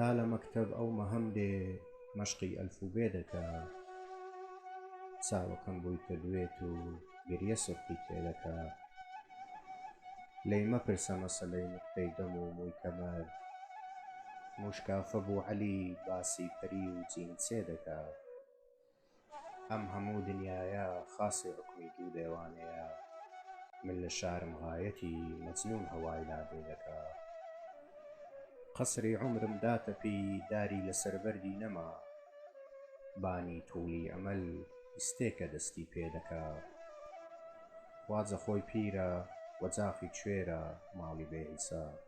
تا لە مەکتەب ئەو مەهەم دێ مەشقی ئەلف و بێ دەکا چاوەکەم بۆی کردوێت و گریە سڕخی تێ دەکا لێی مەپرسە مەسەلەی نقطەی دەم و مووی کەمەر موشکافە بوو عەلی باسی پەری و جینسێ دەکا ئەم هەموو دنیایە خاسی حوکمی دوو دێوانەیە من لە شارم غایەتی مەجنون هەوای لا بێ دەکا قەسری عومرم داتەپی داری لەسەر بەردی نەما بانی توڵی ئەمەل ئیستێکە دەستی پێ دەکا خواجە خۆی پیرە و جاخی کوێرە ماڵی بێ حیساب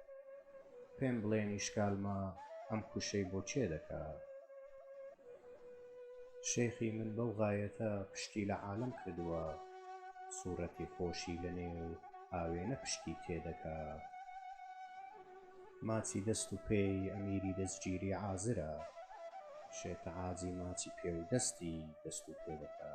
پێم بڵێن ئیشکالمە ئەم کوشەی بۆ کێ دەکا؟ شێخی من بەو غایەتە پشتی لە عالەم کردووە سوورەتی خۆشی لە نێو ئاوێنە پشتی تێ دەکا ماچی دەست و پێی ئەمیری دەستگیری عازرە شێتعاجی ماچی پێ و دەستی دەست و پێ دەکا